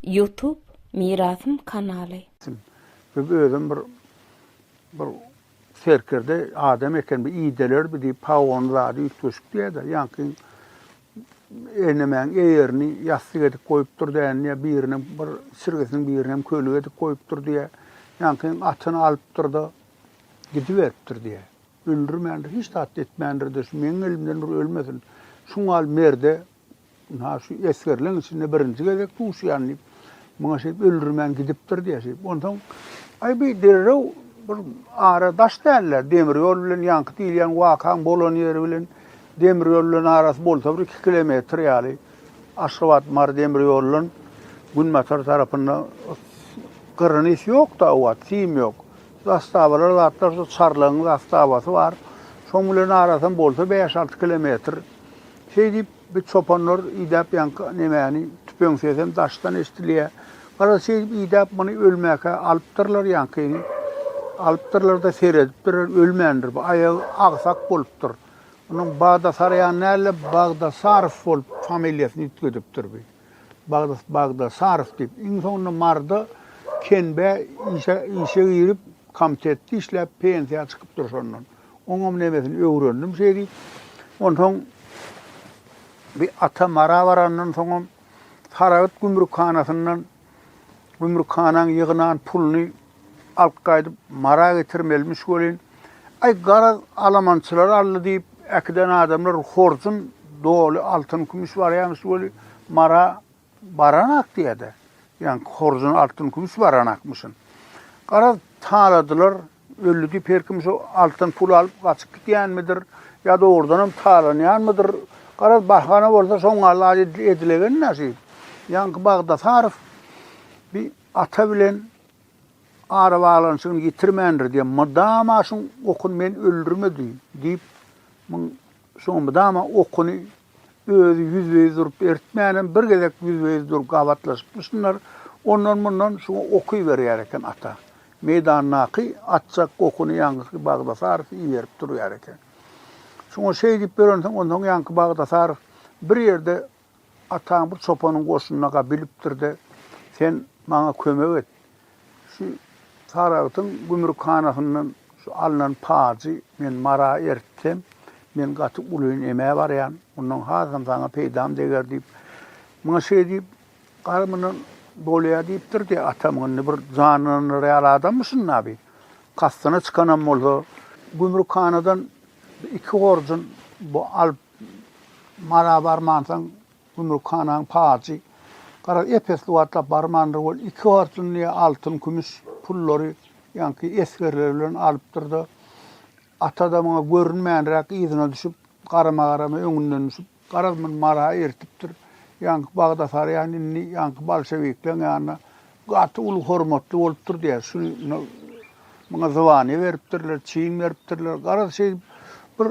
Youtube mirasym kanaly. Biz özem bir bir serkerde adam eken bir idelerbi diýip pagony zady üýtgeşik diýädä ýaňkyň enemäň eýerini ýassyk edip goýupdyr dändiýä birine bir çirgesiniň birinem köli edip goýupdyr diýä ýaňkyň atyny alypdyrda gidiberipdir diýä öldürmändir hiç zat etmändirde şu meň elimden bir ölmesin şuňal merde Ynha, şu esgerleň içinde birinji gezek duşýan diýip, muňa şeýdip öldürmän gidipdir diýýär şeýdip. Onsoň, Aý, bi derrew bir ara daş däl-le, demir ýol bilen ýaňky diýilýän wakaň bolan ýeri bilen demir ýol bilen arasy bolsa bir iki kilometr ýaly. Aşgabat, Mary demir ýolunyň günbatar tarapynda gyrrynys ýok-da, obat, sim ýok. Zastawalar zatlar, şu Çarlygyň zastabasy bar. Şoň bilen arasam bolsa bäş-alty kilometr. Şeýdip, bi çopanlar idäp ýanka nemäni, tüpeň sesem daşdan eşdilýä. Garaz, şeýdip idäp muny ölmäkä alypdyrlar ýankyny. Alypdyrlar-da seredipdirler, ölmändir bu, aýagy agsak bolupdyr. Onuň Bagdasarýan däl-de, Bagdasarow bolup familiýasyny üýtgedipdir bi. Bagdas, Bagdasarow diýip. Iň soňunda Marda Kenbä işe işe girip, komitetde işläp, pensiýa çykypdyr şondan. Oňam nemesini öwrendim şeý diýip. Onsoň bi ata Mara barandan soňam Saragt gümrükhanasyndan gümrükhanaň ýygnan puluny alyp gaýdyp Mara getirmelimiş welin, Aý, garaz, alamançylar aldy diýip, äkiden adamlar horjun doly altyn-kümüş barýarmyş weli, Mara Baranak diýer-de, ýaňky horjun altyn-kümüş baranakmyşyn. Garaz, taladylar, ölli diýip her kim şu altyn pul alyp gaçyp gidýänmidir, ýa dogrudanam talanýanmydyr. Garaz, bahana bolsa şoň galla edilegen näşi. Ýaňky Bagdasarow bi ata bilen arabaglanyşygyny ýitirmändir diýen mydama şuň okun men öldürmedi diýip, muň Şoňa mydama okuny özi ýüzbe-ýüz durup eritmänem, bir gezek ýüzbe-ýüz dur gabatlaşyp dursunlar, ondan-mundan şu oky berýär eken ata. Meýdandaky atjak okuny ýaňky Bagdasarow iberip durýar eken. Şoňa şeý diýip ýörensoň, onsoň ýaňky Bagdasarow bir ýerde Ataň bir çopanyň goşunyna gap ilipdir-de, sen maňa kömek et, şu Saragtyň gümrükhanasyndan şu alnan pajy men Mara eritsem, men gaty ulyny emä barýan, ondan hasam saňa peýdam deger diýip, muňa şeý diýip, Gara mundan bolýa diýipdir diýýär. Atam indi bir janlandyrar ýaly adammy şunda bi? Kastyna çykanam bolsa, gümrükhanadan iki horjun bu alyp Mara barmansoň, gümrük hanaň pajy. Garaz, Efesli wagtlap barmandyr ol, iki horjunlyja altyn, kümüş pullary ýaňky esgerleri bilen alypdyr-da, Ata-da muňa görünmänräk yzyna düşüp, garama-garama öňünden düşüp, garaz, muny Mara eritipdir. Ýaňky Bagdasarýan indi ýaňky bolşewikleň ýanyna Gaty uly hormatly bolupdyr diýýär. Şuny muňa zwaniýe beripdirler, çyn beripdirler. Garaz, şeýdip bir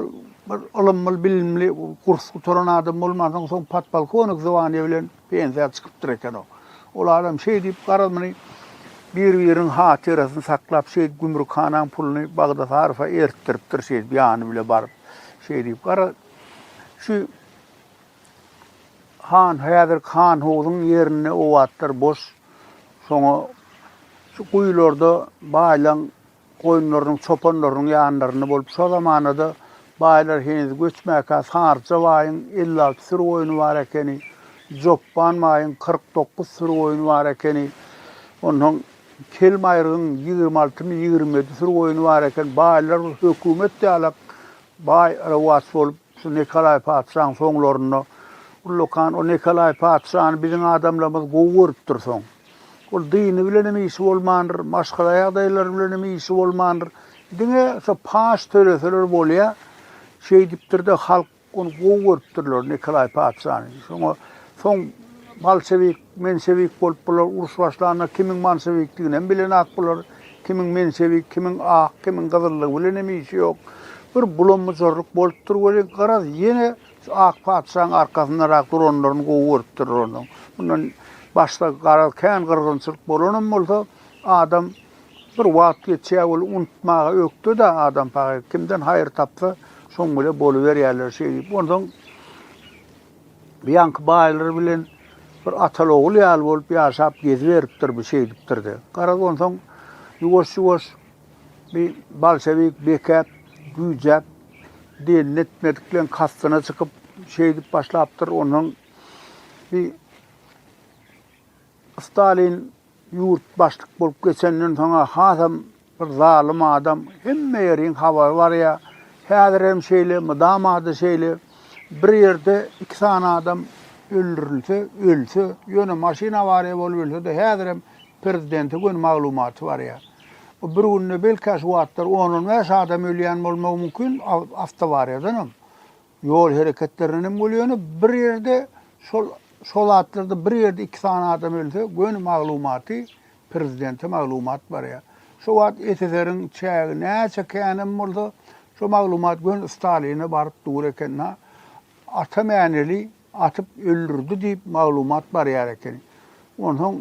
bir ylymly, bilimli, kurs gutaran adam bolmansoň, soň podpolkownik zwaniýe bilen pensiýa çykypdyr eken o. Ol adam şeýdip, garaz, muny bir-biriniň hatyrasyny saklap, şeýdip gümrükhanaň puluny Bagdasarowa ertdiripdir, şeýdip ýany bile baryp. Şeýdip, garaz, şu Han, häzirki Hanhuzuň ýerinde obatlar boş. Şoňa şu guýularda baýlaň goýunlarynyň, çopanlarynyň ýanlarynda bolup, şo zamana-da baýlar heniz göçmäkä Saryja baýyň elli alty süri goýny bar ekeni, Jopban baýyň kyrk dokuz süri goýny bar ekeni. Onsoň Kelmaýrygyň ýigrimi altymy ýigrimi ýedi süri goýny bar eken. Baýlar hökümet ýalap, Baý rowaç bolup, şu Nikolaý patyşaň soňlarynda ullakan o Nikolaý patyşany biziň adamlarymyz gowy görüpdir. Soň ol dyny bilenem işi bolmandyr, maşgala ýagdaýlary bilenem işi bolmandyr. Diňe şo paç töleseler bolýa, şeýdipdir-de, halk ony gowy görüpdirler, Nikolaý patyşany. Şoňa Soň bolşewik, menşewik bolup bular uruş başlanda kimiň bolşewikdiginem bilenak bular, kimiň menşewik, kimiň ak, kimiň gyzyllygy bilenem işi ýok. Bir bulam-bujarlyk bolupdyr welin, garaz, ýene şu ak patyşaň arkasyndarak duranlaryny gowy görüpdirler onuň. Mundan başda, garaz, kän gyrgynçylyk bolanam bolsa, adam bir wagt geçýär welin, unutmaga ökde-dä adam pahyr. Kimden haýyr tapsa, şoň bile boluberýärler şeýdip. Onsoň. Bu ýaňky baýlar bilen bir atal-ogul ýaly bolup ýaşap geziberipdir bu şeýdipdir-de. Garaz onsoň ýuwaş-ýuwaş bi bolşewik bekäp, güýjäp, dynny etmedikleň kastyna çykyp şeýdip başlapdyr. Onsoň bi Stalin Ýurt başlyk bolup geçenden soň-a hasam bir zalym adam, hemme ýeriň habary barýar. Häzir hem şeýle, mydama-da şeýle. Bir ýerde iki sany adam öldürilse, ölse, ýöne maşyn awariýa bolup ölse-de häzirem prezidente göni maglumaty barýar. Bu bir günde belki-ä şu wagtlar on-on bäş adam ölýän bolmagy mümkin, awtoawariýadanam. Ýol hereketlerinden hem bolýar, ýöne bir ýerde şol şol zatlarda bir ýerde iki sany adam ölse, göni maglumaty prezidente maglumat barýar. Şo wagt SSR-iň çägi näçe kän hem bolsa, şo maglumat göni Staline baryp dur eken-hä. Ata Mäneli atyp öldürdi diýip maglumat barýar eken. Onsoň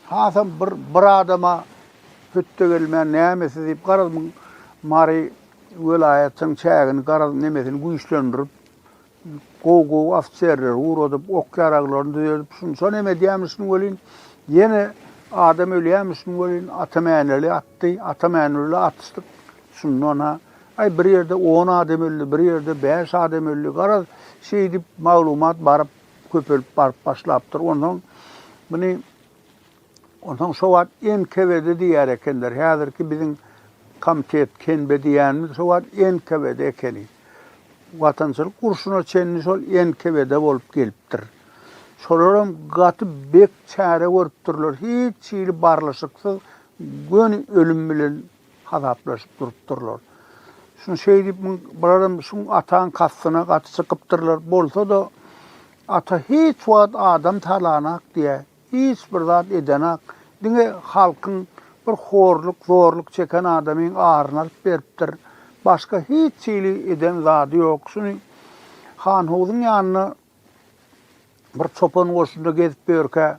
hasam bir bir adama hötde gelmän nämesi diýip garaz muň Mary welaýatyň çägini garaz nemesini güýçlendirip gowy gowy ofiserleri ugradyp ok ýaraglaryny düzedip şunça neme edýämişin welin ýene adam ölýämişin welin Ata Mäneli atdy Ata Mäneli atyşdyk şundan ha Aý, bir ýerde on adam öldi, bir ýerde bäş adam öldi. Garaz, şeýdip maglumat baryp, köpelip baryp başlapdyr. Onsoň muny onsoň şo wagt NKWD diýer ekenler. Häzirki biziň komitet, KNB diýýänimiz şo wagt NKWD ekeni. Watançylyk urşuna çenli şol NKWD bolup gelipdir. Şolaram gaty bek çäre görüpdirler. Hiç hili barlyşyksyz göni ölüm bilen Hasaplaşyp durupdyrlar. Şuny şeý diýip, bularam şu ataň kastyna gaty çykypdyrlar. Bolsa-da, ata hiç wagt adam talanak diýä, hiç bir zat edenak. Diňe halkyň bir horluk, zorluk çeken adamyň aryny alyp beripdir. Başga hiç hili eden zady ýok. Şuny Hanhuzyň ýanyna Bir çopan goşunda gezip ýörkä,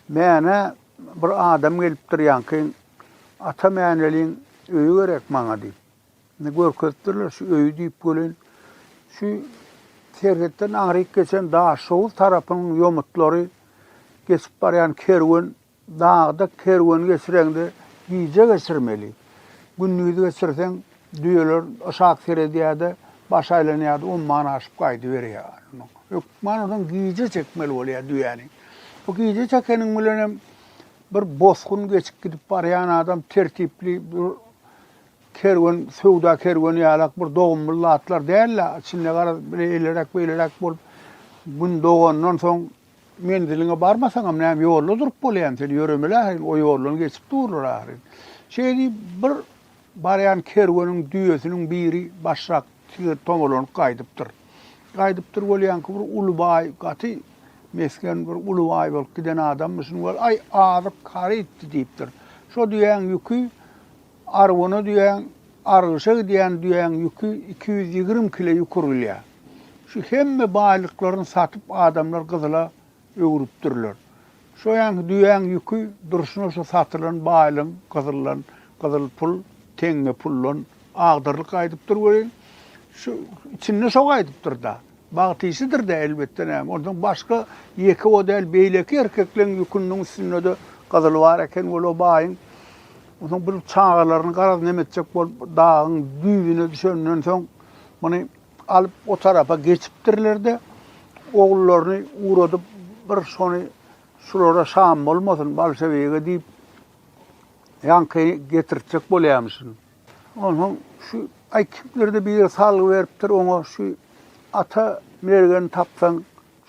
Mänä bir adam gelipdir ýaňky, Ata Mäneliň öýi gerek maňa diýip. Indi görkezipdirler şu öýi diýip welin, şu serhetden aňryk geçen Daşoguz tarapynyň ýomutlary geçip barýan kerwen Dagda kerwen geçireňde gije geçirmeli. Gündiz geçirseň, düýeler yşak seredýär-de, baş aýlanýar-da, umman aşyp gaýdyberýär. Hökman onsoň gije çekmeli bolýar düýäni. Bu gije çekeniň bilen hem bir bosgun geçip gidip barýan adam tertipli bir kerwen, söwda kerweni ýalak bir dogumly zatlar däl-de, içinde garaz, bile eýleräk-beýleräk bolup, gün dogandan soň Menziliňe barmasaňam näme ýolda durup bolýamy sen ýöremeli ahyryn o ýoldan geçip durlar ahyryn. Şeý diýip bir barýan kerweniň düýesiniň biri başrak tigir tomalanyp gaýdypdyr. Gaýdypdyr bolýanky bir uly baý gaty mesgen bir uly baý bolup giden adammy şuny gör aý azyp kary etdi diýipdir. Şo düýäň ýüki arwana düýäň argyşa gidýän düýäň ýüki iki ýüz ýigrimi kile ýukur gilýär. Şu hemme baýlyklaryny satyp adamlar gyzyla öwrüpdirler. Şoýanky düýäň ýüki durşuna şu satylan baýlygyň gyzyldan, gyzyl pul, teňňe puldan agdyrlyk gaýdypdyr welin, şu içinde şo gaýdypdyr-da. Bagt işidir-dä, elbetde, näme. Onsoň başga ýeke o däl, beýleki erkekleň ýüküniň üstünde-de gyzyl bar eken weli o baýyň. Onsoň bir çagalaryny garaz neme etjek bolup dagyň düýbüne düşenden soň muny Alyp o tarapa geçipdirler-de, ogullaryny ugradyp, bir şony şulara şam bolmasyn, bolşewige diýip, ýaňky getirtjek bolýamyşyn. Onsoň şu, aý, kimdir-de biri salgy beripdir oňa, şu Ata mergeni tapsaň,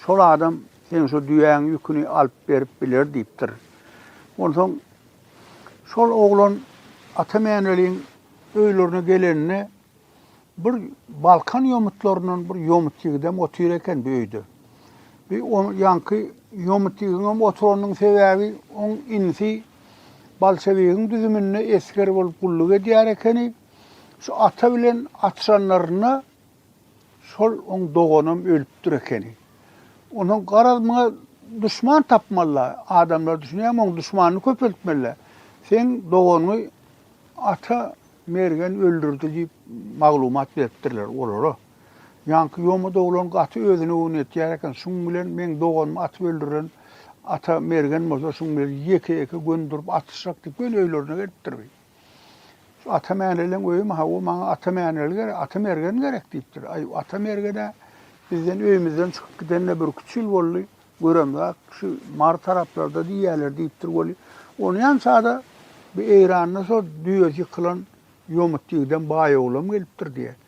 şol adam seň şu düýäň ýüküni alyp berip biler diýipdir. Onsoň şol oglan Ata Mäneliň öýlerine gelende, Bir Balkan ýomutlaryndan bir ýomut ýigidem otyr eken bir öýde. Bi on ýanky ýomut ýigiňem oturanyň sebäbi oň inisi Balçabegiň düzüminde esger bolup gulluk edýär ekeni. Şu ata bilen atyşanlarynda şol oň doganam ölüpdir ekeni. Onuň garaz muňa duşman tapmalyla. Adamlar düşünýämi oň duşmanyny köpeltmelila. Seň doganyňy ata Mergen öldürdi diýip maglumat beripdirler olara. Ýaňky ýoma doglan gaty özüne göwün etýär eken, şuň bilen meň doganymy atyp öldüren ata Mergen bolsa şuň bilen ýeke-ýeke göni durup atyşjak diýip göni öýlerine gelipdir bi. Şu Ata Mäneleň öýümi hawa maňa Ata Mäneli gerek, Ata Mergen gerek diýipdir. Aý Ata Mergen-ä bizden öýümizden çykyp gidende birküç ýyl boldy. Göremzak şu Mary taraplarda diýýäler diýipdir weli, ony ýan sada bi Eýranda şo düýesi ýykylan ýomut ýigidem baý oglam gelipdir diýýär.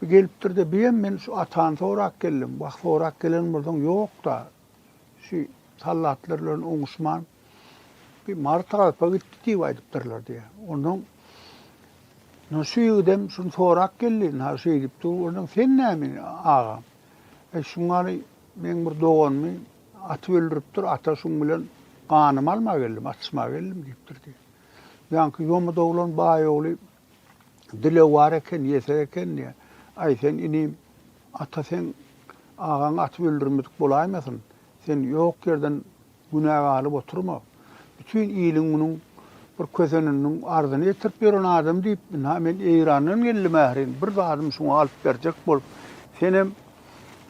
Bi gelipdir-de, biýem men şu atany sorap geldim. Wah, sorap gelen bolsaň ýok-da, şu sallatlar bilen oňuşman bi Mary tarapa gitdi diýip aýdypdyrlar diýýär. Onsoň Ynha şu ýigidem şuny sorap geldi, ynha şeýdip dur. Onsoň sen näme indi agam? Eý, şuň ýaly meň bir doganymy atyp öldüripdir, ata şuň bilen ganymy almaga geldim, atyşmaga geldim diýipdir diýýär. Ýaňky ýomy doglan baý ogly dilewar eken, ýesir eken diýýär. Aý, sen inim, ata seň agaňy atyp öldürmedik bolaýmasyn? Sen ýok ýerden Günä galyp oturma. Bütin iliň munuň bir köseniniň arzyny ýetirip ýören adam diýip, ynha men Eýrandan geldim ährin, bir zadymy şuňa alyp berjek bolup. Senem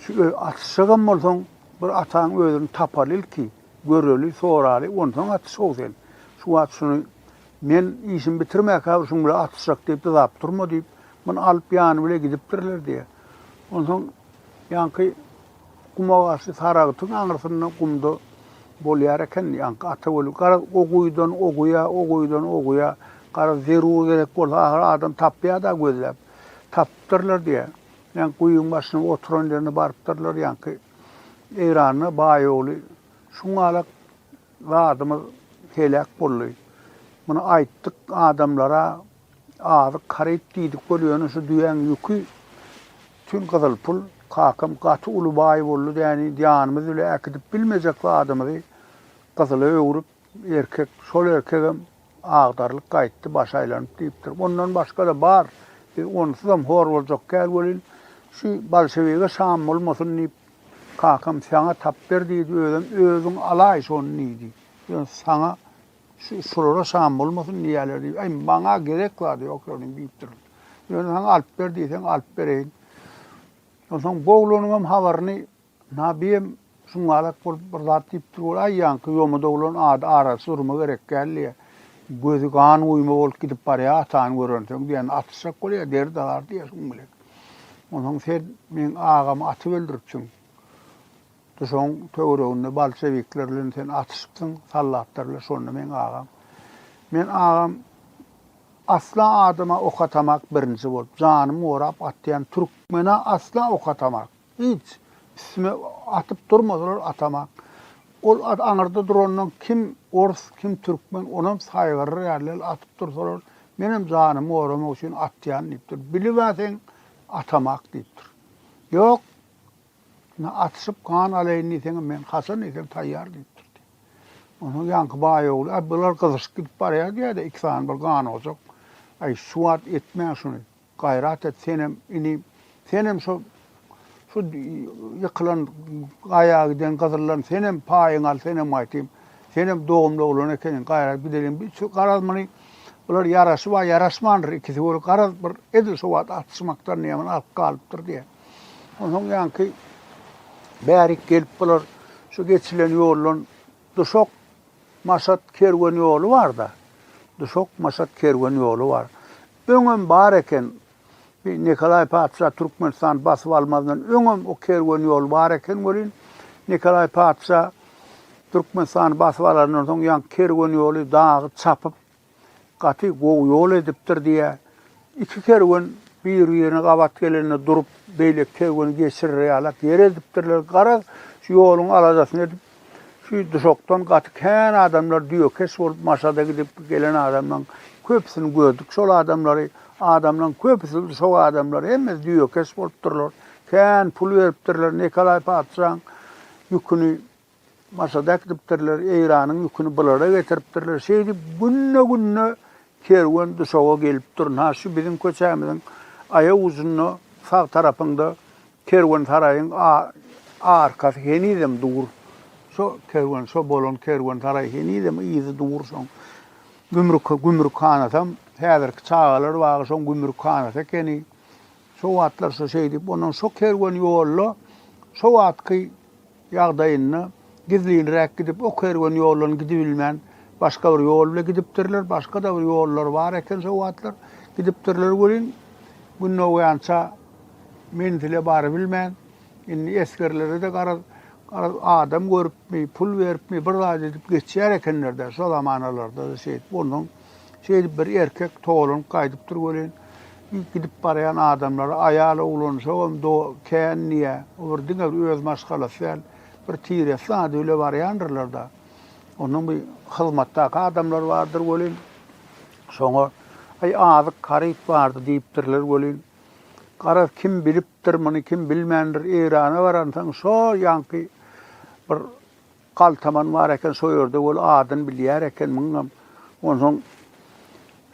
şu öý atyşjagam bolsaň, bir ataň özüni tapaly ilki, göreli, soraly, onsoň atyş-ow sen. Şu wagt şuny men işimi bitirmäkä bir şuň bilen atyşjak diýip dyzap durma diýip, muny alyp ýany bile gidipdirler diýýär. Onsoň ýaňky Gumagasy Saragtyň aňyrsynda gumda bolýar eken. Ýaňky Ataweli garaz o guýudan o guýa, o guýudan o guýa, garaz zerur gerek bolsa ahyry adam tapýar-da gözläp. Tapypdyrlar diýýär. Ýaňky guýyň başyna oturan ýerine barypdyrlar ýaňky Eýranda baý ogly. Şuňalak zadymyz heläk boldy. Muny aýtdyk adamlara, Azyk haryt diýdik bol ýöne şu düýäň ýüki tün gyzyl pul kakam gaty uly baý boldy däniýdi ýanymyz bile äkidip bilmejek zadymyzy gyzyla öwrüp erkek şol erkegem agdarylyp gaýtdy başy aýlanyp diýipdir ondan başgada bar biz onsuzam hor boljak däl welin şu bolşewige şam bolmasyn diýip kakam saňa tapber diýdi özem özüň alaý şony diýdi ýöne saňa Şu şulara şam bolmasyn diýýärler diýip, aý maňa gerek zady ýok şonuň diýipdir. Ýöne saňa alyp ber diýseň alyp bereýin. Onsoň bu oglanyň hem habaryny Nabiem şuňalak bolup bir zat diýipdir bol, aý ýaňky ýomut oglan ady arasy durma gerek däl diýýär. Gözi gan guýma bolup gidip barýar atany görensoň diýýär, atyşjak bolýar, deri dalar diýýär şuň bilen. Onsoň sen meň agamy atyp öldüripsiň. Duşagyň töwereginde bolşewikler bilen sen atyşypsyň, soldatlar bilen, şonda meň agam. Men agam asla adama ok atamak birinji bolup, janymy gorap atýan türkmena asla ok atamak. Hiç, üstüme atyp durmasalar atamak. Ol aňyrda durandan kim ors, kim türkmen, onam saýgaryr ýaly atyp dursalar, menem janymy goramak üçin atýan diýipdir. Bilib-ä seň atamak diýipdir. Ýok, Üstüne atyşyp gan alaýyn diýseňem men haçan diýseň taýýar diýip durdy. Onsoň ýaňky baý ogly, Äý, bular gyzyşyp gidip barýar diýýä-de, iki sany bir ganojak. Äý, şu wagt etmäň şuny. Gaýrat et senem, inim. Senem şo şu ýykylan gaýa giden gyzyldan senem paýyňy al, senem aýtym. Senem dogumly oglan ekeniň, gaýrat gideliň. Biz şu garaz muny bular ýaraşyp-a ýaraşmandyr ikisi weli garaz bir edil şu wagt atyşmakdan näme alyp galypdyr diýýä. Onsoň ýaňky bärik gelip bular şu geçilen ýoldan Duşak, Maşat kerwen ýoly bar-da. Duşak, Maşat kerwen ýoly bar. Öňem bar eken. Bi Nikolaý patyşa Türkmenistany basyp almazyndan öňem o kerwen ýol bar eken welin, Nikolaý patyşa Türkmenistany basyp alandan soň ýaňky kerwen ýoly dagy çapyp, Gaty gowy ýol edipdir diýýär. Iki kerwen bir-birine gabat gelende durup, beýleki kerweni geçirer ýalak ýer edipdirler. Garaz, şu ýoluň aladasyny edip, şu duşakdan gaty kän adamlar düýekeş bolup Maşada gidip gelen adamlaryň köpüsini gördük. Şol adamlary, adamlaryň köpüsi, duşak adamlary hemmesi düýekeş bolupdyrlar. Kän pul beripdirler Nikolaý patyşaň ýüküni. Mosadak dipdirler, Eýranyň ýüküni bulara getiripdirler. Şeýdip, günde-günde kerwen Duşawa gelip dur. Ynha, şu biziň köçämiziň aýak ujunda, sag tarapyňda kerwensaraýyň arkasy henizem dur. Şo kerwen, şo bolan kerwensaraý henizem yzy dur şoň. Gümrük, gümrükhanatam häzirki çagalar bagy şoň gümrükhanaty ekeni. Şo wagtlar şo şeýdip, ondan şo kerwen ýolda şo wagtky ýagdaýynda gizlinräk gidip, o kerwen ýoldan gidibilmän, başga bir ýol bile gidipdirler, başga-da bir ýollar bar eken şo wagtlar, gidipdirler welin, gün dogýança menzile barybilmän, indi esgerlere-de garaz, garaz, adam görüpmi, pul beripmi, bir zat edip geçýär ekenler-dä, şo zamanalarda-da şeýdip, ondan. Şeýdip bir erkek togalanyp gaýdypdyr welin, gidip barýan adamlary aýal oglanjagam kän diýýär. O bir diňe bir öz maşgalasy däl, bir tire zat bile barýandyrlar-da. Onuň bir hyzmatdaky adamlary bardyr welin, şoňa Aý, azyk haryt bardy diýipdirler welin, garaz, kim bilipdir muny, kim bilmändir, Eýrana baransoň şo ýaňky bir Galtaman bar eken şo ýerde ol adyny bilýär eken muňam. Onsoň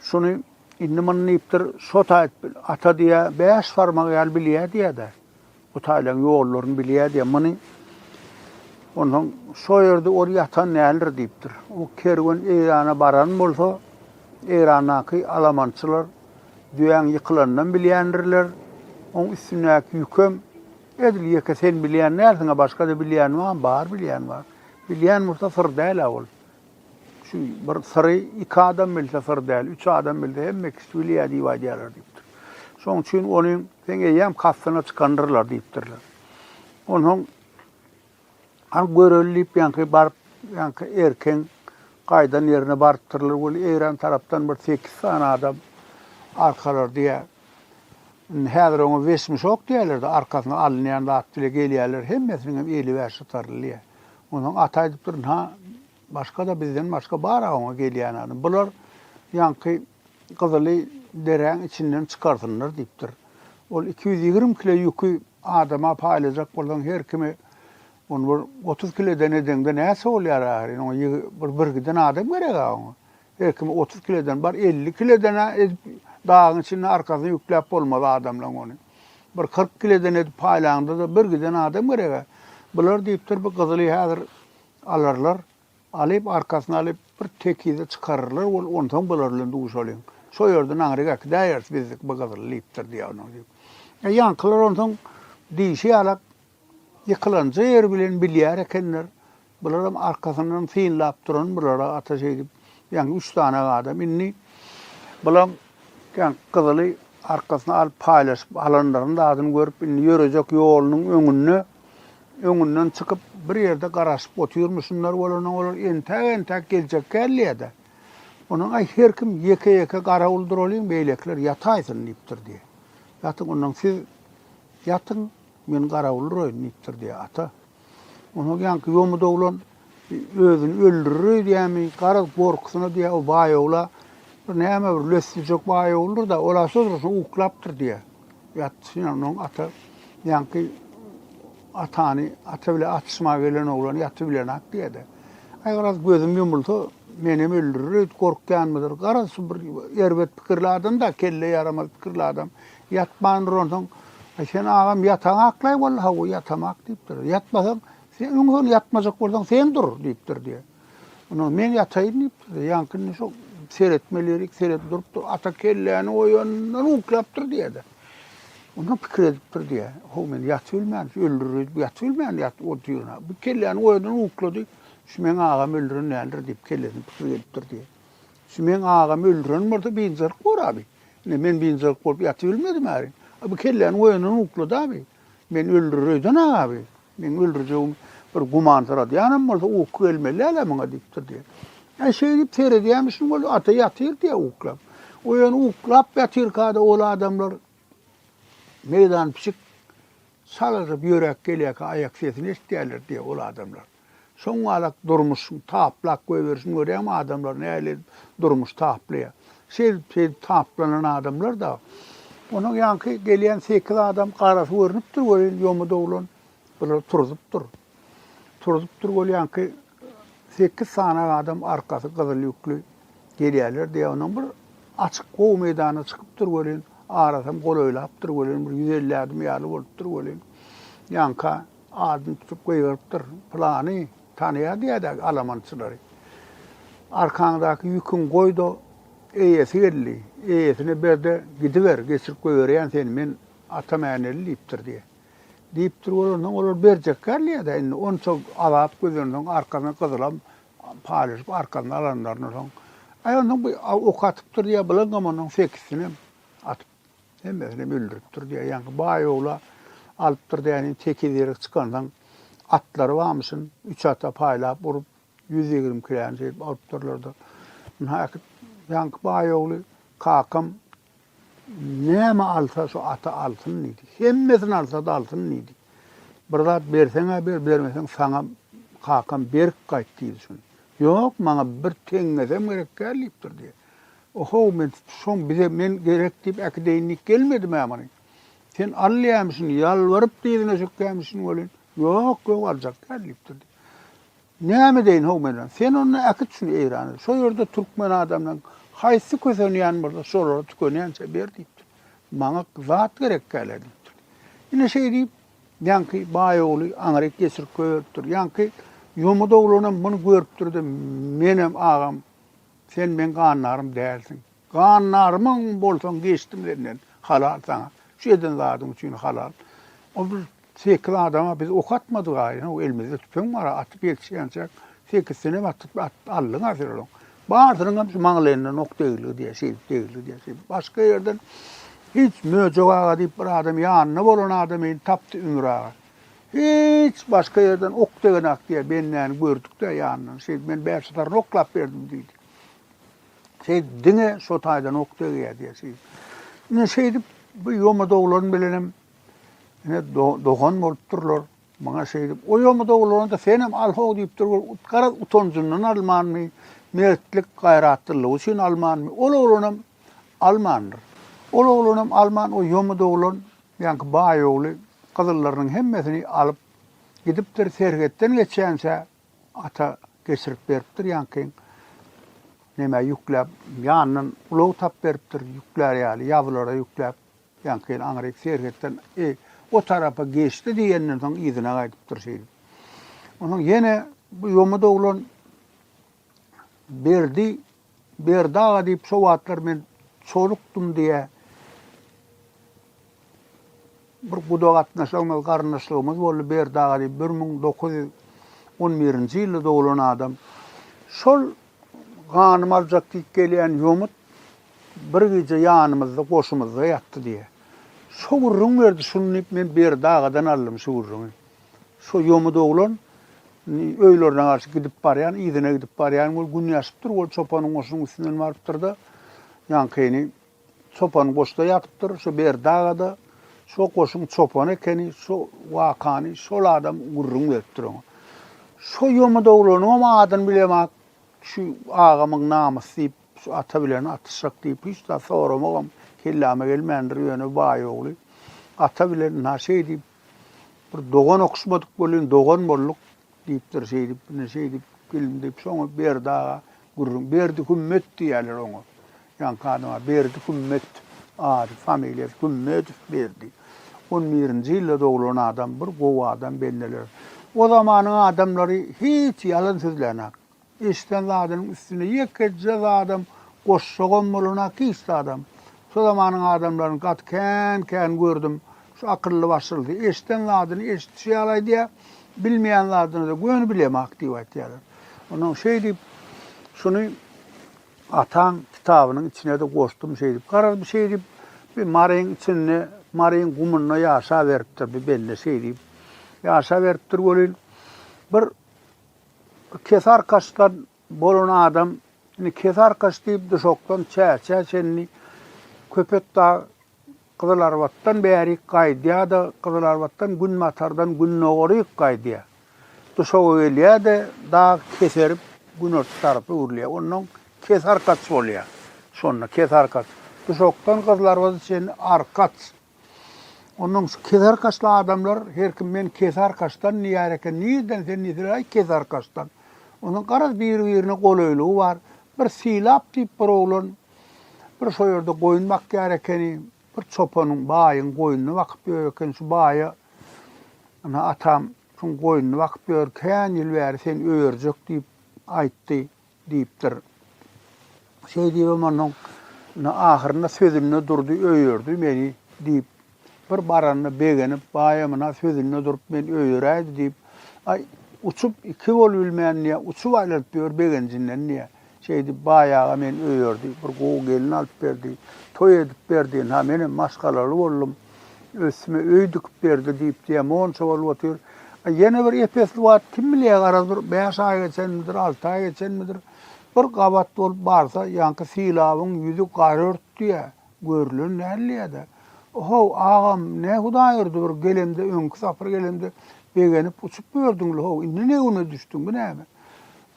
şuny indi muny diýipdir, şo taýt ata diýýär, bäş barmak ýaly bilýär diýýär-de. Bu taýlaryň ýollaryny bilýär diýýär. Muny onsoň şo ýerde ol ýatan däldir diýipdir. O kerwen Eýrana baran bolsa, Eýrandaky alamançylar düýäň ýykylanynam bilýändirler. Oň üstündäki ýükem Edil ýeke sen bilýän dälsiň-a, başga-da bilýän bar, bar bilýän bar. Bilýän bolsa syr däl-ä ol. Şu bir syry iki adam bilse syr däl, üç adam bilse hemme kişi bilýär diýip aýdýarlar diýipdir. Şonuň üçin ony seň eýýäm kastyna çykandyrlar diýipdirler. Onsoň Hany göreli diýip ýaňky baryp, ýaňky erken gaýdan ýerine barypdyrlar weli Eýran tarapdan bir sekiz sany adam arkalar diýýär. Indi häzir oňa wesmişok diýýärler-de, arkasyna alynýan zat bile gelýärler, hemmesiniňem eli bäşatarly diýýär. Onsoň ata aýdypdyr, Ynha, Başga-da bizden başga bar-a oňa gelýän adam. Bular ýaňky Gyzyly deräň içinden çykarsynlar diýipdir. Ol iki ýüz ýigrimi kile ýüki adama paýlajak bolsaň, her kime ony bir otuz kileden edeňde näçe bolýar ahyryn? Oňa ýygy, bir birgiden adam gerek-ä oňa. Her kime otuz kileden, bar elli kileden-ä edip dagyň içinde arkasyna ýükläp bolmaz adamlaň ony. Bir kyrk kileden edip paýlaňda-da birgiden adam gerek-ä. Bular diýipdir, bu Gyzyly häzir Alarlar. Alyp, arkasyna alyp, bir tekize çykararlar bolup, onsoň bular bilen duşalyň. Şo ýerde naňryk äkidäýeris bizdik bu gyzyl, diýipdir diýäýnok diýip. E, ýaňkylar onsoň diýşi ýalak, ýykylanja ýeri bilen bilýär ekenler. Bularam arkasyndan synlap duran bulara ata şeýdip, ýaňky üç sany adam. Indi bulam ýaňky gyzyly arkasyna alyp paýlaşyp alanlaryň zadyny görüp, indi ýörejek ýolunyň öňünde Öňünden çykyp, bir ýerde garaşyp otyrmyşynlar bolany, olar entäk-entäk geljek gälýä-de, ondan, Aý, her kim ýeke-ýeke garawul duralyň, beýlekiler ýataýsyn, diýipdir, diýýä. Ýatyň, ondan siz ýatyň, men garawul duraýyn, diýipdir, diýýä ata. Onsoň ýaňky ýomudoglan. Özüni öldürer öýdýärmi, garaz, gorkusyna diýýär, o baýawla bir näme bir lössüjek baýawlydyr-da, ol-a şo dursun uklapdyr diýýär. Ýatdy şeýle, onda onuň ata ýaňky atany, ata bilen atyşmaga gelen oglany ýatyp bilenok diýýär-de. Aý, garaz, gözüm ýumulsa, menem öldürer öýdüp gorkýanmydyr, garaz, şu bir erbet pikirli adam-da, kelle ýaramaz pikirli adam, ýatmandyr onsoň. Aý, sen agam ýataňaklaý walla, hawa, ýatamak diýipdir. Ýatmasaň, Sen öň hol ýatmajak bolsaň, sen dur, diýipdir diýe. Onam men ýataýyn diýipdir diýe. Ýaňkyny şo seretmelirik, seredip durupdyr. Ata kelläni oýandan uklapdyr diýe-de. Onam pikir edipdir diýe. Ho, men ýatyp bilmän, öldürür, ýatyp bilmän ýat otyryna. Bu kelläni oýandan uklady. Şu meň agamy öldüren däldir diýip kellesine pikir gelipdir diýe. Şu meň agamy öldüren bolsa biynjalyk bor-a bi. Ine, men biynjalyk bolup ýatyp bilmedim-ä. Bu kelläni oýandan uklady-a bi. Men öldürer öýden agaby. Meň öldürjegim bir gümansyradýanam bolsa uky gelmeli däl-ä muňa diýipdir diýýär. Äý şeý diýip seredýämişin ol ata ýatyr diýýär uklap. Oýan uklap ýatyrka-da ol adamlar meýdan pişik şalaryp ýöräp gelýärkä aýak sesini eşidýärler diýýär ol adamlar. Soň galak durmuşyň taplap goýberişini görýäňmi adamlar nähili edip durmuş taplaýar. Şeýdip şeýdip taplanan adamlar dagy. Onuň ýaňky gelýän sekiz adam garasy görnüpdir welin ýomudy oglan bular turzup-dur. Turzup-dur ol ýaňky sekiz sany adam arkasy gyzyl ýükli gelýärler diýýär onuň bir açyk gowy meýdana çykypdyr welin arasam golaýlapdyr welin bir ýüz elli adam ýaly bolupdyr welin ýaňka Adyny tutup gygyrypdyr. Pylany tanaýar diýädäki alamançylary. Arkaňdaky ýüküňi goý-da, eýesi geldi, eýesine ber-de gidiber, geçirip goýberýän seni men Ata Mäneli diýipdir diýýär. Diýipdir bolansoň, olar berjekgär diýýär-de, indi onça azap gözlensoň, arkasyna gyzylam paýlaşyp, arkasyna alanlaryndan soň, aý onsoň bir ok atypdyr diýýär, bulaňam onsoň sekizsinem atypdyr. Hemmesinem öldüripdir diýýär. Ýaňky baý ogla alypdyr dänin tekiz ýerik çykandan atlary barmyşyn, üç ata paýlap urup, ýüz ýigrimi kiläni şeýdip alypdyrlar-da. Ynha äkit ýaňky baý ogly, kakam näme alsa şu ata alsyn diýdi. Hemmesini alsa-da alsyn diýdi. Bir zat berseň-ä ber, bermeseň saňa kakam berip gaýt diýdi şuny. Ýok, maňa bir teňňesem gerek däl diýipdir diýýär. Ohow, men şoň bize men gerek diýip äkideýin diýip gelmedim-ä muny. Sen alýamyşyn, ýalbaryp dyzyna çökýämişin welin, Ýok, ýok, aljak däl diýipdir diýip. Näme edeýin, how, men, sen onda äkit şuny Eýrana, şo ýerde türkmen adamlaryň haýsy kösenýän bolsa, şolara tükenýänçä ber diýipdir. Maňa zat gerekkä-le diýipdir. Ine şeý diýip, ýaňky baý ogly aňryk geçirip goýberipdir. Ýaňky Ýomut oglanam muny görüpdir-de, Menem, agam, Sen meň gannarym dälsiň. Gannarymyň bolsaň geçdim senden, halal saňa. Şu eden zadyň üçin halal. O bir sekiz adama biz ok atmadygaý, ýa-da elimizde tüpeň bar, atyp ýetişýänçäk sekizsinenem atyp aldyň-a sen olaň. Barsynyň hem şu maňlaýyndan ok degilgi diýýär, şeýdip degilgi diýýär, şeýdip. Başga ýerden hiç Möjek aga diýip bir adam ýanynda bolan adamyny tapdy Ümür aga. Hiç başga ýerden ok degenak diýýär, bendäni gördük-dä ýanyndan. Şeýdip, men bäş zaryn oklap berdim diýdi. Şeýdip, diňe şo taýdan ok degýär diýýär şeýdip. Ine şeýdip, bu ýomudoglan bilenem ine dogan bolupdyrlar. Maňa şeýdip, o ýomudoglana-da senem al ho diýipdir, ol garaz utanjyndan almanmy, mertlik, gaýratlylygy üçin almanmy, ol oglanam almandyr. Ol oglanam alman, o ýomudoglan Ýaňky baý ogly gyzyllarynyň hemmesini alyp gidipdir, serhetden geçýänçä ata geçirip beripdir, ýaňkyň nämä ýükläp, ýanyndan ulag tap beripdir, ýüklär ýaly, ýabylara ýükläp, ýaňky aňryk serhetden eý, o tarapa geçdi diýenden soň yzyna gaýdypdyr şeýdip. Onsoň ýene bu ýomut oglan Berdi Berdi aga diýip şo wagtlar men çolukdym diýä bir guda gatnaşygymyz garyndaşlygymyz boldy Berdi aga diýip bir müň dokuz ýüz on birinji ýylda doglan adam şol ganymy aljak diýip gelýän ýomut bir gije ýanymyzda goşumyzda ýatdy diýä şo gürrüň berdi şuny diýip men Berdi agadan aldym şu gürrüňi. Şo ýomut oglan öýlerine garşy gidip barýan, yzyna gidip barýan bolup gün ýaşypdyr. Ol çopanyň goşunyň üstünden barypdyr-da, ýaňkyny çopan goşda ýatypdyr. Şo Berdi daga-da şo goşuň çopany ekeni, şo wakany şol adam gürrüň beripdir oňa. Şo ýomut oglanyňam adyny bilemok, şu agamyň namysy diýip, şu ata bilen atyşjak diýip, hiç zat soramagam kelläme gelmändir, ýöne baý ogly ata bilen ynha şeý diýip, Bir dogan okuşmadyk bolyn, dogan bolduk, diýipdir şeýdip, ine şeýdip, gelin diýip, şoňa Berdi aga gürrüň, Berdi Hümmet diýýärler oňa. Ýaňky adama Berdi Hümmet ady, familiýasy Hümmedow Berdi. On birinji ýylda doglan adam, bir gowy adam bendeler. O zamanyň adamlary hiç ýalan sözlänok. Eşiden zadynyň üstüne ýekeje zadam goşjagam bolana hiç zadam. Şo zamanyň adamlaryny gaty kän-kän gördüm. Şu akylly-başylysy eşiden zadyny eşitişi ýaly aýdýar, bilmeýän zadyny-da göni bilemok diýip aýtýarlar. Onnoň şeýdip, şuny ataň kitabynyň içine-de goşdum şeýdip. Garaz, bu şeýdip, bir maryň içinde, maryň gumunda ýaşaberipdir bu bende şeýdip. Ýaşaberipdir welin, bir. Kesearkaçdan bolan adam, indi Kesearkaç diýip Duşakdan Çäçä çenli Köpetdag Gyzylarbatdan bärik gaýdýar-da, Gyzylarbatdan günbatardan gündogaryk gaýdýar. Duşaga gelýär-de, dag keserip, günorta tarapa öwrülýär. Ondan Kesearkaç bolýar. Şonda Kesearkaç. Duşakdan Gyzylarbada çenli Arkaç. Ondan şu keser kaşly adamlar her kim men kesar kaşdan diýär eken. Nirden sen diýseler aý kesar kaşdan. Onuň garaz biri-birine golaýlygy bar. Bir Sylap diýip bir oglan bir şo ýerde goýun bakýar ekeni. Bir çopanyň, baýyň goýnuny bakyp ýör eken. Şu baýa Ine atam şuň goýnuny bakyp ýör. Kän ýyl bäri sen öýerjek diýip aýtdy. Diýipdir. Şeý diýibem onnoň ahyrynda sözünde durdy, öýerdi meni, diýip. Bir baranyna begenip, baýamyna sözünde durup, meni öýeräýdi, diýip. Aý, uçup iki bolubilmän, diýýär, uçup aýlanyp ýör begenjinden, diýýär. Şeý diýip, baý aga meni öýerdi, bir gowy gelin alyp berdi, toý edip berdi, ynha, menem maşgalaly boldum. Üstüme öý dikip berdi diýip diýýär, monça bolup otyr. A ýene bir ep-esli wagt, kim bilýär, ara bir bäş aý geçenmidir, alty aý geçenmidir, bir gabat bolup barsa, ýaňky sylabyň ýüzi gara örtdüýär, görülen däldiýär-de. O-how, agam, ne hudaý urdy, bir gelemde, öňki sapar gelemde begenip uçup ýördüň-le-how, indi ne güne düşdüň, bu näme?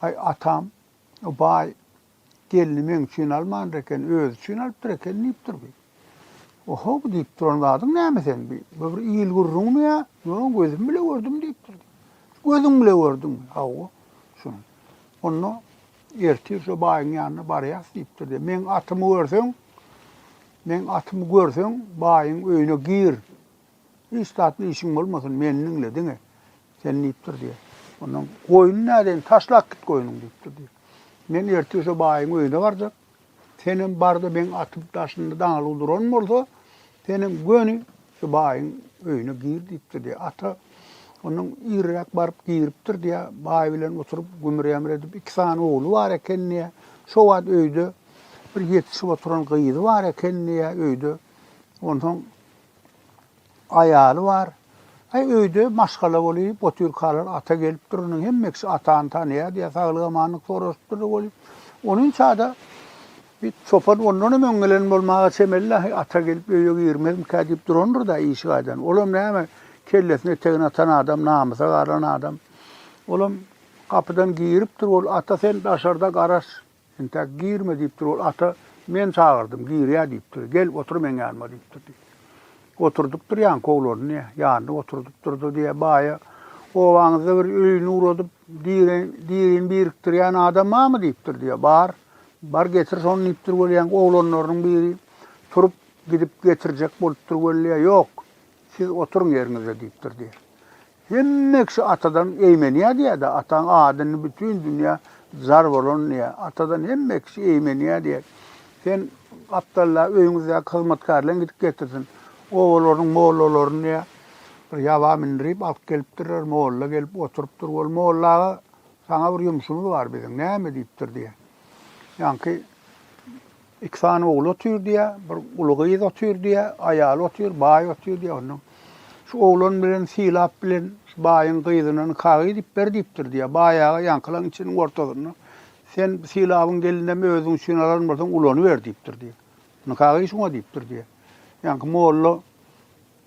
Aý, atam, baý, Gelni meň üçin almandyr eken, özi üçin alypdyr eken diýipdir bi. Oho, bu diýip duran zadyň näme seň bi? Bu bir il gürrüňmi ýa? Ýok, gözüm bile gördüm diýipdir. Gözüň bile gördüňmi? Hawa. Şuny. Onda ertir şu baýyň ýanyna barýas diýipdir de, meň atymy görseň, meň atymy görseň, baýyň öýüne gir. Hiç zatly işiň bolmasyn, meni diňle diňe. Sen diýipdir diýýär. Ondan goýun nädeýin, taşlap git goýnuňy diýipdir diýýär. Men ertir şu baýyň öýüne barjak. Senem barda meň atyp daşynda daňylyk duran bolsa, senem göni şu baýyň öýüne gir diýipdir diýýär. Ata Ondan irräk baryp giripdir diýýär. Baý bilen oturyp gümür-ýamyr edip, iki sany ogly bar eken diýýär. Şo wagt öýde bir ýetişip oturan gyzy bar eken diýýär öýde. Onsoň Aýaly bar. Aý, öýde maşgala weli, botyrkalar ata gelip dur, iniň hemme kişi atany tanaýar diýýär, saglyk-amanlyk soraşyp durlar weli. Onuň çada bi çopan ondanam öň gelen bolmaga çemeli-dä, heý, ata gelip öýe girmezmikä diýip durandyr-da işi gaýdan. Olam näme, kellesini etegine atan adam, namysa galan adam. Olam gapydan giripdir weli, ata, sen daşarda garaş, Entäk girme diýipdir ol ata, men çagyrdym, girýä diýipdir, gel, otur meň ýanyma diýipdir diýýär. Oturdypdyr ýankowlaryny diýýär, ýanyna oturdypdyr-da diýýär, baýa, obaňyzda bir öýüni ugradyp, diri, dirini birikdirýän adam barmy diýipdir diýýär, bar, bar getir şony diýipdir weli ýaňky oglanlarynyň biri turup, gidip getirjek bolupdyr weli diýýär, ýok, siz oturyň ýeriňizde diýipdir diýýär. Hemme kişi atadan eýmenýär diýýär-de, ataň adyny bütin dünýä jar bolan diýýär. Atadan hemme kişi eýmenýär diýýär. Sen gapdalda öýüňizdäki hyzmatkärleň gidip getirsin. Obalaryň mollalaryny diýýär, bir ýaba mindirip alyp gelipdirler. Molla gelip oturypdyr. Bol, molla aga, saňa bir ýumşumyz bar biziň. Näme diýipdir diýýär. Ýaňky Iki sany ogly otyr diýä, bir uly gyz otyr diýä, aýaly otyr, baý otyr diýä. Ondan şu oglan bilen Sylap bilen şu baýyň gyzyna nikaga gidip ber diýipdir diýä. Baý aga ýaňkylaň içiniň ortasynda Sen Sylabyň gelinem özüň üçin alan bolsaň ulanyber diýipdir diýä. Nikagy şuňa diýipdir diýä. Ýaňky molla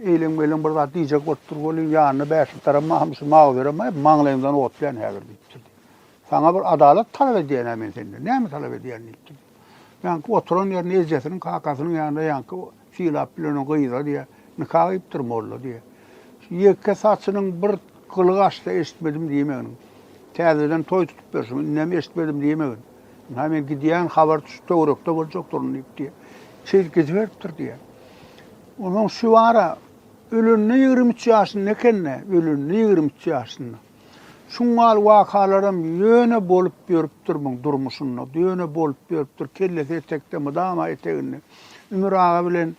Eýleň-meýleň bir zat diýjek bolup dur welin, ýanyna bäşlikdaram, Mahamşy, Mawyzerem, Aý, maňlaýyňdan ot bilen häzir diýipdir. Saňa bir adalat talap edýän-ä men senden. Näme talap edýän diýipdir. Ýaňky oturan ýerinde ejesiniň, kakasynyň ýanynda ýaňky sylap bilenen gyza diýýä, nika gyýypdyr molla diýýä. Şu ýeke saçynyň bir gyly gaçsa eşitmedim diýmegin. Täzeden toý tutup berşiň, indem eşitmedim diýmegin. Ynha, men gidýän, habar şu töwerekde boljakdyryn diýip diýýä. Çyz gidiberipdir diýýä. Onuň Şüwara ölende ýigrimi üç ýaşynda ekeni, ölende ýigrimi üç ýaşynda. Şuňňal wakalaram ýöne bolup ýörüpdir muň durmuşynda, ýöne bolup ýörüpdir, kellesi etekde mydama eteginde. Ümür aga bilen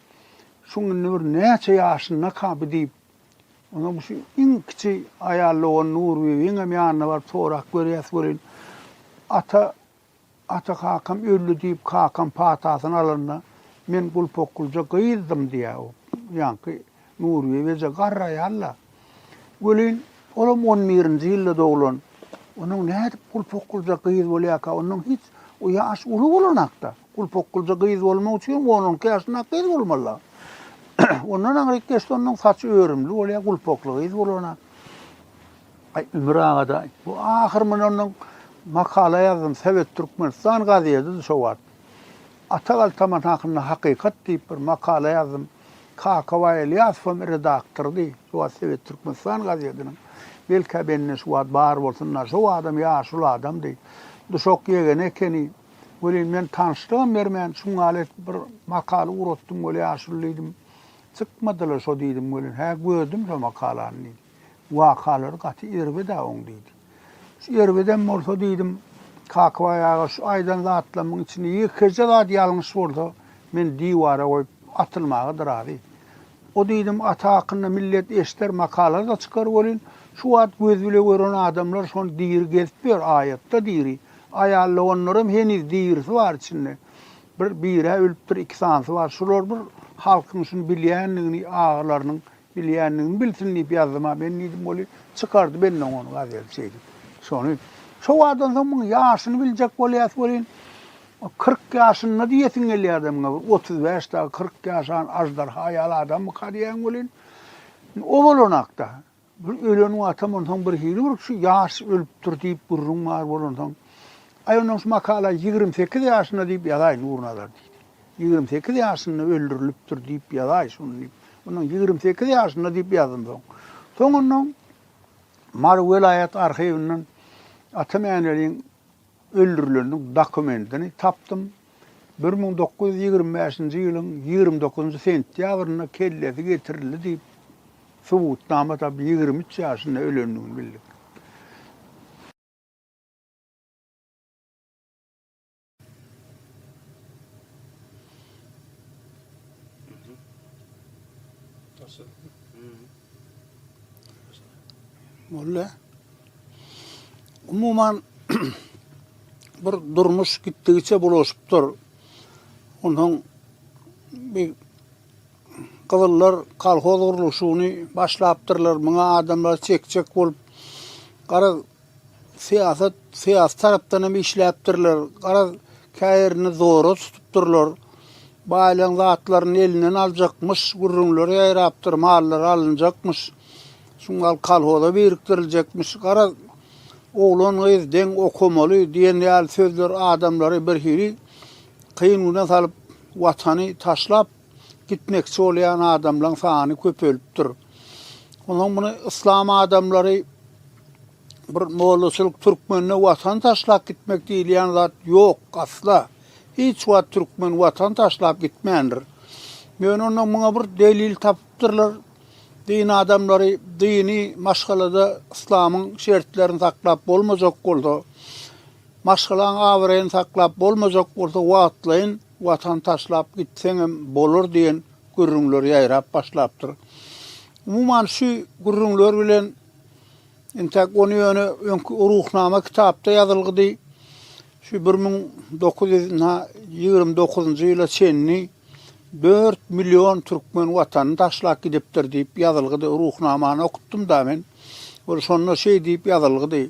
şuň indi bir näçe ýaşyndaka bu diýip, onuň şu iň kiçi aýal dogany Nurbibiňem ýanyna baryp sorap görýäs welin, ata, Ata kakam öldi diýip, kakam patasyny alanda, men gulpokgulja gyzdym diýýär o ýaňky Nurbibi eje garry aýal-da. Welin, olam on birinji ýylda doglan. Onuň nädip gulpokgulja gyz bolýarka, ondan hiç, o ýaş uly bolanak-da. Gulpokgulja gyz bolmak üçin on on iki ýaşynda-ak gyz bolmaly-da. Ondan aňryk geçse, onuň saçy örümli bolýar, gulpokly gyz bolanak. Aý Ümür agada bu ahyr mundandan makala ýazdym Sowet Türkmenistan gazedidi şo wagt. Ata galtaman hakynda hakykat diýip bir makala ýazdym. Kakabaý Ylýasowam redaktordy şo wagt Sowet Türkmenistan gazediniň. Belkä bende şu wagt bar bolsunda şo wagtam ýaşuly adamdy. Duşak ýegeni ekeni. Welin men tanyşlygam bermän şuňňal edip bir makala ugratdym weli ýaşuly diýdim. Çykmadyla şo diýdim welin hä gördüm şo makalany diýdim. Wakalary gaty erbet-ä oň, diýdi. Şu erbedem bolsa, diýdim, Kakabaý aga, şu aýdan zatlarymyň içinde ýekeje zat ýalňyş bolsa, men diwara goýup, atylmaga-da razy. O, diýdim, ata hakynda millet eşder, makala-da çykar welin, şu wagt göz bile gören adamlar şony diri gezip ýör, aýat-da diri. Aýal doganlaram heniz dirisi bar içinde. Bir biri-ä ölüpdir, iki sanysy bar. Şular bir halkyň şuny bilýändigini, agalarynyň Bilýändigini bilsin diýip ýazdym-a men diýdim, weli, çykardy benden ony gazeli şeýdip. Şony şo wagtdan soň muň ýaşyny biljek bolýas welin, kyrk ýaşynda diýesiň gelýärdi muňa, bir otuz bäş dagy kyrk ýaşan aždarha ýaly adammyka diýýän welin, o bolanakda, bir ölen wagtam onsoň birhili bir şu ýaş ölüpdir diýip gürrüň bar bolansoň, aý onnoň şu makala ýigrimi sekiz ýaşynda diýip ýazaý Nurnazar diýdi. Ýigrimi sekiz ýaşynda öldürilipdir diýip ýazaý şuny diýip. Onuň ýigrimi sekiz ýaşynda diýip ýazdym soň. Soňundan Mary welaýat arhiwinden Ata Mäneliň öldürileniniň dokumentini tapdym. Bir müň dokuz ýüz ýigrimi bäşinji ýylyň ýigrimi dokuzynjy sentýabrynda kellesi getirildi diýip subutnama tapyp ýigrimi üç ýaşynda ölendigini bildik. Molla. Umuman bir durmuş gitdigiçe bulaşypdyr. Ondan bir gyzyllar kolhoz gurluşygyny başlapdyrlar. Muňa adamlar çekçek bolup, gara Syýasat, syýasy tarapdan hem işläpdirler. Garaz, käýerini zora tutupdyrlar. Baýlaň zatlaryny elinden aljakmyş gürrüňler ýaýrapdyr, mallary alynjakmyş. Şu mal kolhoza birikdiriljekmiş. Garaz, oglan-gyz deň okamaly diýen ýaly sözler adamlary birhili kyn güne salyp, watany taşlap, gitmekçi bolýan adamlaryň sany köpelipdir. Onsoň muny yslam adamlary bir mollaçylyk türkmende watan taşlap gitmek diýilýän zat ýok asla. Hiç wagt türkmen watan taşlap gitmändir. Ýöne onda muňa bir delil tapypdyrlar. Din adamlary dini maşgalada yslamyň şertlerini saklap bolmajak bolsa, maşgalaň abraýyny saklap bolmajak bolsa wagtlaýyn Watan taşlap gitseňem bolar diýen gürrüňler ýaýrap başlapdyr. Umuman, şu gürrüňler bilen entäk ony ýöne öňki Ruhnama kitapda ýazylgydy, şu bir müň dokuz ýüz nji ýigrimi dokuzynjy ýyla çenli dört million türkmen Watanyny taşlap gidipdir diýip ýazylgydy, Ruhnamany okutdym-da men. Ol şonda şeý diýip ýazylgydy,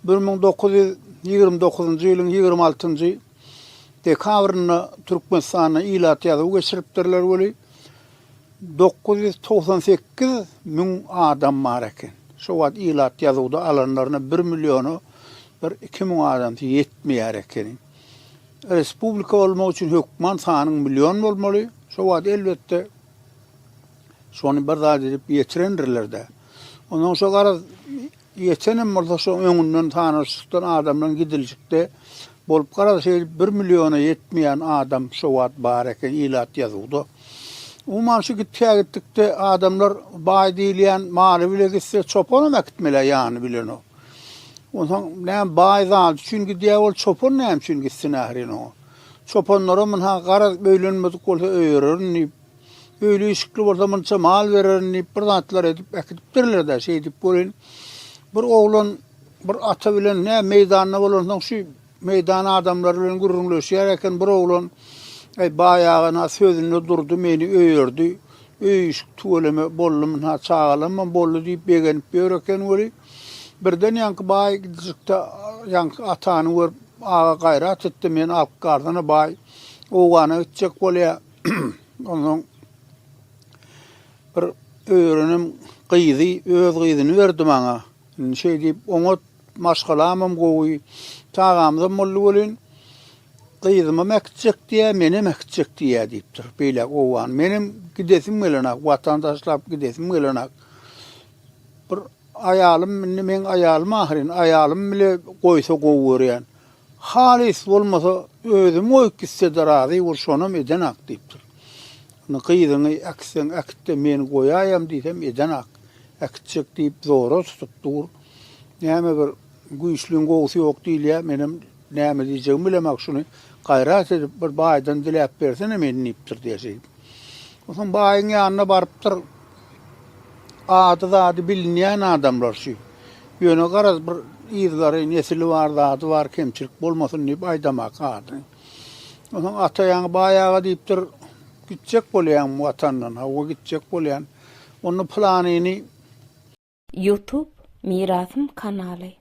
bir müň dokuz ýüz ýigrimi dokuzynjy ýylyň ýigrimi altynjy. dekabrynda Türkmenistanda ilat ýazuwy geçiripdirler weli, dokuz ýüz togsan sekiz müň adam bar eken. Şo wagt ilat ýazuwda alanlaryna bir milliona bir iki müň adamsy ýetmeýär ekeni. Respublika bolmak üçin hökman sanyň million bolmaly. Şo wagt elbetde şony bir zat edip ýetirendirler-dä. Ondan soň garaz Ýetenem bolsa şo öňünden tanyşlykdan adamdan gidiljikde bolup garaz şeýdip bir milliona ýetmeýän adam şo wagt bar eken ilat ýazuwda. Umuman şu gitkä gitdikde adamlar baý diýilýän maly bile gitse çopanam äkitmelä ýany bilenok. Onsoň näme baý zady üçin gidýä ol çopan näme üçin gitsin ährin oňa. Çopanlaram ynha garaz öýlenmedik bolsa öýererin diýip Öýli işikli bolsa munça mal bererin diýip bir zatlar edip äkidipdirler-de şeýdip welin bir oglan bir ata bilen nä meýdanda bolansoň şu meýdan adamlary bilen gürrüňleşýär eken bir oglan Eý baý agana sözünde durdy meni öýerdi öý işik tüweleme boldum ha çagalamam boldy diýip begenip ýör eken weli birden ýaňky baý gidijikde ýaňky atany görüp aga gaýrat etdi men alp garzana baý owgana gitjek bolýar Ondan bir öýrenim gyzy, öz gyzyny berdi maňa. Indi şeý diýip, oňat maşgalam hem gowy. Çagamyz hem boldy welin, gyzym hem äkitjek diýýär, men hem äkitjek diýýär diýipdir. Beýläk owan. Men hem gidesim gelenok, watan taşlap gidesim gelenok. Bir aýalym, indi meň aýalym ahyryn, aýalym bile goýsa gowy görýän. Halys bolmasa özüm goýup gitsede razy bol şonam edenak diýipdir. Indi gyzyňy äkitseň äkitde men goýaýam diýsem edenak. Äkitjek diýip zora tutup dur. Näme bir güýçliň gowusy ýok diýilýä menem näme diýjegimi bilemak şuny gaýrat edip bir baýdan diläp bersene men diýipdir diýeşeýip. Soň baýyň ýanyna barypdyr. Ady-zady bilinýän adamlar şu. Ýöne garaz bir yzgary, nesili bar, zady bar, kemçilik bolmasyn diýip aýdamak ady. Onsoň ata ýaňy baý aga diýipdir, Gitjek bolýaňmy watandan? Hawa, gitjek bolýan. Onda pylanyny. Youtube mirasym kanaly.